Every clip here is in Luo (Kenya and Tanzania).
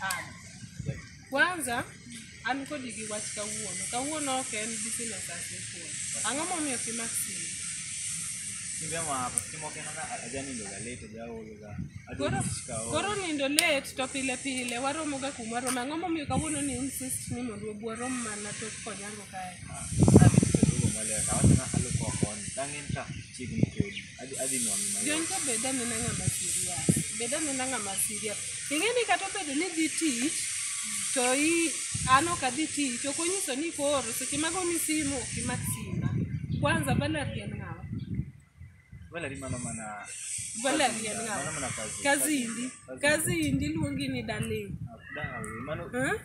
Haya. Kwanza an kodi gi wach kawuono. Kawuono ok en business as usual. Ang'o momiyo ok imak simu? Simbe mako, simu ok en ona ajanindo ga late, ajaolo ga. Koro Adwaro tich ka koro oro. nindo late to pile pile waromo ga kuma waromo. Ang'o momiyo kawuono ni insist ni mondo wabu warom mana to konyango kae? Adhi tich aduogo maler, awachona alupo koni. Dang'en ka chiegni kodi. Adhi adhi nwang'i mayot. John to bed anena ng'ama serious. Bed anena ng'ama serious. Ing'e ni kata obedo ni dhi tich to i an ok adhi tich ok onyiso ni koro seche mago ni simu ok imak simba. Kwanza Valerie en ng'awa. Valerie mano mana Valerie en mano ng'awa. mana kazi. Kazi indi. Kazi indi luongi ni darling. Ah, dawe, Mano Huh?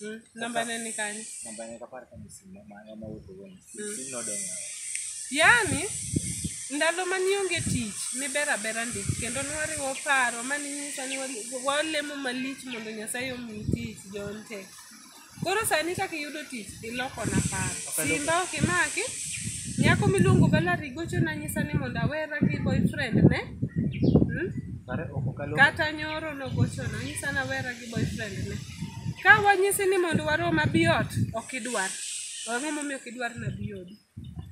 Mm, namba ne ni kanye namba ne kapar kama simo mano ma wuotho woni Mm. simo nodong' awa yaani ndalo ma nionge tich niber abera ndi kendo nwariwo paro ma ninyisa ni wali- walemo malich mondo nyasaye omi tich jonte koro sani kaka iyudo tich ilokona paro Okaloko. simba ok imaki nyako miluongo galari gocho nanyisa ni mondo awera gi boyfriend ne mm? kare ok okalo kata nyoro nogochona nyisa nawera gi boyfriend ne ka wanyisi ni mondo warom abiot ok idwar ang'o momiyo ok idwar na biodi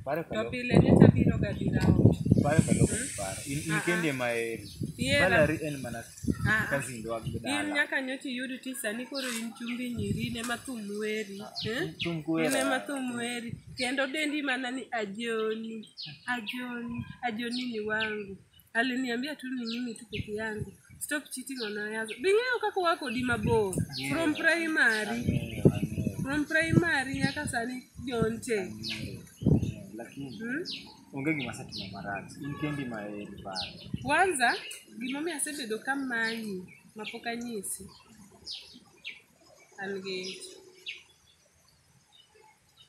Pare to kalo pile nyocha biro ga dira ot pare kalo pare. In in kende ma eri. Yera. Valerie en mana Ah, ah. kazi ndo in agdala. nyaka nyocha iyud ti sani koro in chumbi nyiri ne ma thum weri eh? Thum kuwera. in ema thum weri kendo dendi mana ni ajoni ajoni ajoni ni wangu aliniambia tu ni mimi tu peke yangu stop cheating on others bing'eyo kaka wako di mabor from primary from primary nyaka sani jonte lakini hmm? onge gima setimo marach in kendi ma eri paro kwanza gimomiyo asebedo ka manyi mapok anyisi an gi ich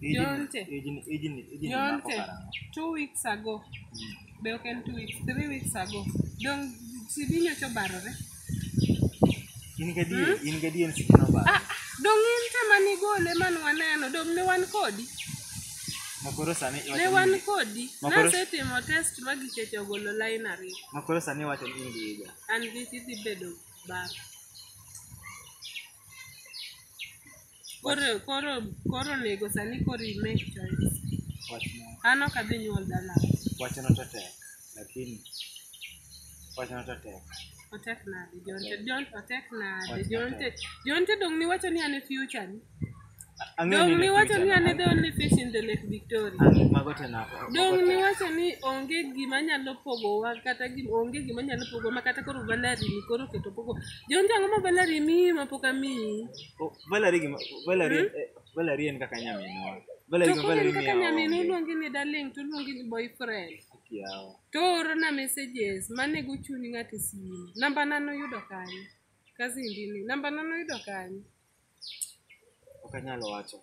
Jonte. Ijni, ijni, ijni mako Jonte, karang'o? two weeks ago. Be ok en two weeks, three weeks ago. Dong CD nyocha obarore. In gadier, in gadier sidi nobaro. Ah, dong in te mane igole man waneno, dong ne wan kodi. Ma koro sani iwacho Ne ni- wan kodi. Ma koro- Nasetimo test ma gicheche ogolo line ariyo. ma koro sani iwacho ni in gi higa. An gi idhi bedo baba. Koro koro koro onego sani koro i make choice. Wachno An ok adhi nyuol dala. wachno to tek lakini wachno to tek. Otek nade? Jonte Jonte otek nade? Otek Jonte nade? Jonte dong niwacho ni an e future ni. Ang'eyo Dong ni niwacho ni an e the only fish in the Lake Victoria. Ang'e- mago te na Dong niwacho ni onge gima nyalo pogowa kata gim, onge gima nyalo pogowa ma kata koro valari ni koro keto pogo. Jonte ang'o ma valari miyi ma pok amiyi? Oh, Valerie gima Valerie eh, Valerie en kaka nyaminwa. Valerie To gima koro Valerie en kaka miyawa. nyamin oluongi ni darling to oluongi ni boyfriend. Kiawa. To orona messages manego chuny ng'ato e simu. Namba na noyudo kanye? Kazi ndini. Namba na noyudo kanye? Ok anyal wacho.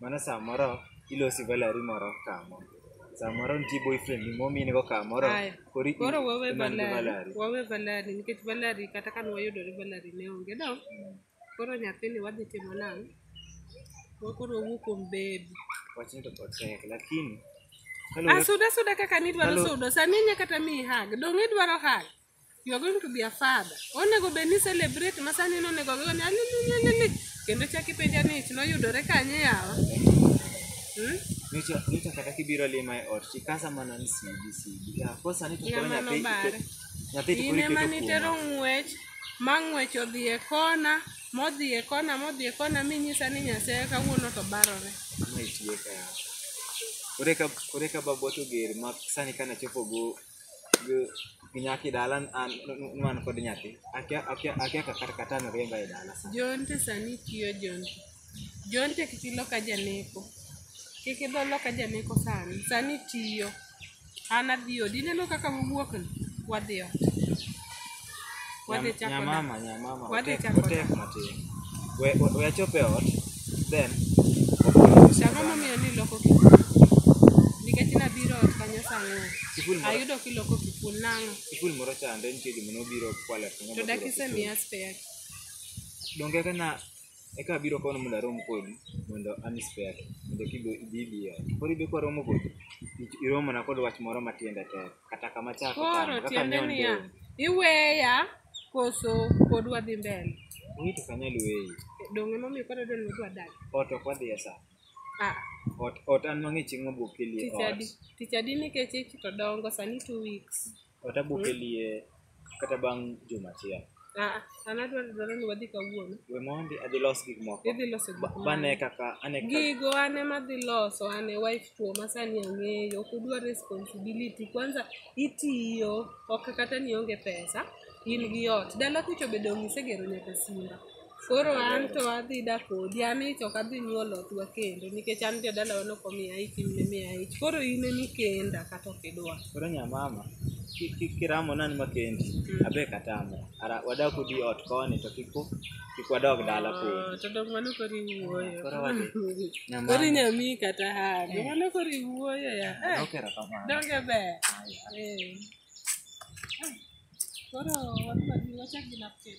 Mano samoro ilosi valari moro kamo. Samoro nitie boyfriend ni momin go kamoro. Aya. Koro i- Koro wawe imanyo valari. valari. Wawe valari nikech valari kata ka nwayudore valari ne onge do. Koro nyathini wadhi timo nang'o? Wa- Koro wawuo kuom baby. Wachni to pod tek lakini Ah, kaluwore suda suda kaka nidwaro Hello. sudo. Sani inya kata miyi hag. Dong' idwaro hag. You are going to be a father. Onego bed ni celebrate ma sani nonego gigo ni alilililili. Kendo chak ipenja ni ich noyudore kanye yawa. Hmm? Nyocha nyocha kata kibiro lima e ot, tikasa mana ni sidi sidi. Ah, kwa sani to Ya koro mano nyathi bare. iketo- nyathi to koro Ine ma iketo nitero kuoma. ng'wech, ma ng'wech odhi e kona, modhi e kona, modhi e kona minyisa ni Nyasaye kawuono to barore. Ma itieka yawa. Kore ka kore ka baboto ger ma sani kana chopo go ginyaki dala an man kod nyathi akia akia akia kaka kata no riemba e dala sa Jonte sani tiyo jonte. Jonte kik iloka janeko. Kik idho loka janeko sani. Sani tiyo. An adhi odi. Ineno kaka wawuok ni? Wadhi ot. Wadhi Nyam- chako na- nyamama nyamama Wadhi otek- chako na- otek matin we we- we achop e ot then Chako momiyo ni loko kipul. Nikech nabiro ot kanyo sang'o. Kipul moro- Ayudo kiloko kipul nang'o. kipul moro chande nitie joma nobiro kwale To dakise miya spare. donge eka na eka abiro kono mondo arom kodi mondo an spare mondo kibe ibi ibi e ot koro ibe kwaromo kodi i- iromona kod wach moro matiende tek kata kama chako koro tamo kaka tiende nyon niya dong. iweya koso pod wadhi mbele Wait ok anyal weyi. donge momiyo koro dwani wadwa dag Ot ok wadhi e sa. ah Ot ot an mang'e chieng' abok kelie tich ot. adi tich adi nikech ich to dongo sani two weeks Ot abok kelie kata bang' juma achiel Ah, an adwaro dwaro ni wadhi kawuono. we mondi adhi los gik moko Idhi loso gik Ba- moko. bane kaka ane kaka Gigo an ema dhi loso, an e wife to masani ang'eyo, ok udwa responsibility. Kwanza itiyo, ok kata ni onge pesa, in gi ot. Dala kucho be dong' isegero nyaka simba. Koro an to adhi dak kodi, an ich ok adhi nyuolo otwa kendo nikech an jodalawa ne ok omiya ich, in ne miya ich. Koro in emi kenda kata ok idwa. Koro nya mama, ki- ki- kiramo nani makendi, abe katamo. Ara wadak udi ot koni to kik u- kik wadog dala kodi. Ah, To dong mano koro iwuoyo. Koro wadhi. Nya Koro mama, inyami kata hago. Mano koro iwuoyo ya. Eh, ok erokamano. Donge ber. Eh. Ah, Koro wadwa ni wachak gi napkin.